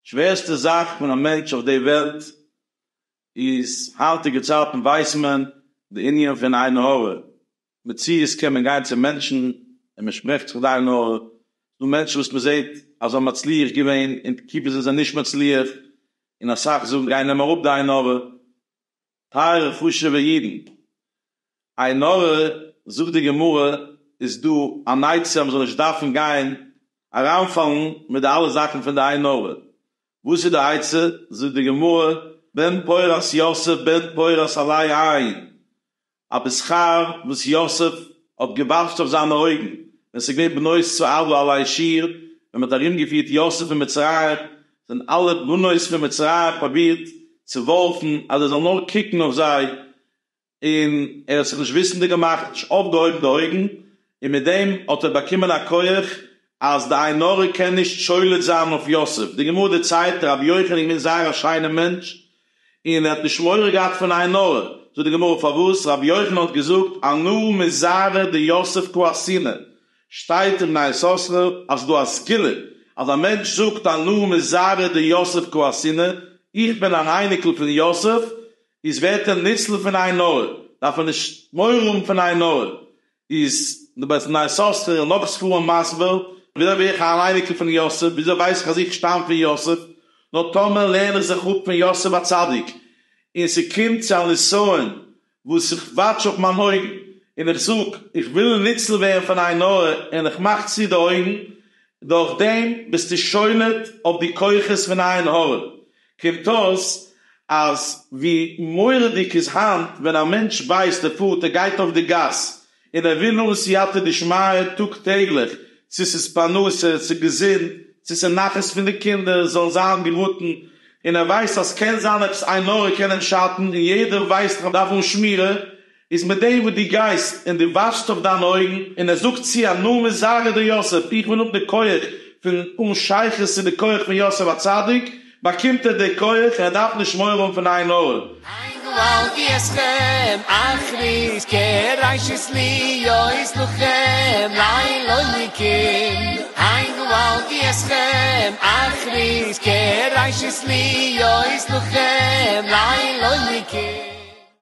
שווערסטע זאך פון א מענטש אויף די וועלט איז היינטיגע צייטן ווייסט מען די ענין פון עין הרע, מציאות קען מען גיין צו מענטשן און מען שפרעכט זיך די עין הרע, ס'איז דא מענטשן וואס מען זעט אז זיי האבן מצליח געווען און תקופה זענען זיי נישט מצליח און אסאך זאגן גיי נעם אראפ די עין הרע. טייערע חשובע אידן, עין הרע זאגט די גמרא איז דא אן עצה אז מען זאל נישט דארפן גיין אריינפאלן מיט די אלע זאכן פון די עין הרע, וואס איז די עצה? זאגט די גמרא, בן פורת יוסף בן פורת עלי עין, א בשכר וואס יוסף האט געוואטשט אויף זיינע אויגן ווען ס'איז געווען בנות צו עבלא עלי שיר, ווען מען האט ארומגעפירט יוסף אין מצרים, זענען אלע בנות פון מצרים פרובירט צו ווארפן אז ער זאל נאר קוקן אויף זיי און ער האט זיך נישט וויסענדיג געמאכט נישט אויפגעהויבן די אויגן און מיט דעם האט ער באקומען א כח אז די עין הרע קען נישט שולט זיין אויף יוסף, די גמרא דערציילט רבי יוחנן געווען זייער א שיינער מענטש און ער האט נישט מורא געהאט פון עין הרע, זאגט די גמרא פארוואס רבי יוחנן האט געזאגט אנא מזרע דיוסף קא אסינא, שטייט אין בני יששכר אז ס'דא א סגולה אז א מענטש זאגט אנא מזרע דיוסף קא אסינא, איך בין אן אייניקל פון יוסף, איז ווערט ער ניצל פון עין הרע, דארף ער נישט מורא האבן פון עין הרע, איז די בית מדרש סאסטער און נאך ספרים מסביר וויאזוי בין איך אן אייניקל פון יוסף, וויאזוי ווייס איך אז איך שטאם פון יוסף, נאר טאמער לערן איך זיך אפ פון יוסף הצדיק און ס'קומט צו א נסיון וואס איך וואטש אויף מיין אויגן און איך זאג איך וויל ניצל ווערן פון עין הרע און איך מאך צו די אויגן, דורכדעם ביסטו שולט אויף די כוחות פון עין הרע, קומט אויס אז ווי מורא'דיג איז היינט ווען א מענטש ווייסט ער פארט ער גייט אויף די גאס און ער וויל נאר סייעתא דשמיא טאג טעגליך צו ס'איז פרנסה צו געזונט צו ס'איז נחת פון די קינדער זאלן זיין געראטן און ער ווייסט אז קען זיין עפעס עין הרע קען אים שאטן און יעדער ווייסט אז מ'דארף האבן שמירה איז מיט דעם וואס דו גייסט און דו וואשסט אויף דיינע אויגן, און ער זאגט צו א נאמן, זאג אדער יוסף, איך בין אפ די כח פון אן שייכות צו די כח פון יוסף הצדיק, באקומט ער די כח און ער דארף נישט מורא האבן פון עין הרע. עין הרע אל תיאסכם אחרית כראשית להיות לוחם לאלוהיקים עין הרע אל תיאסכם אחרית כראשית להיות לוחם לאלוהיקים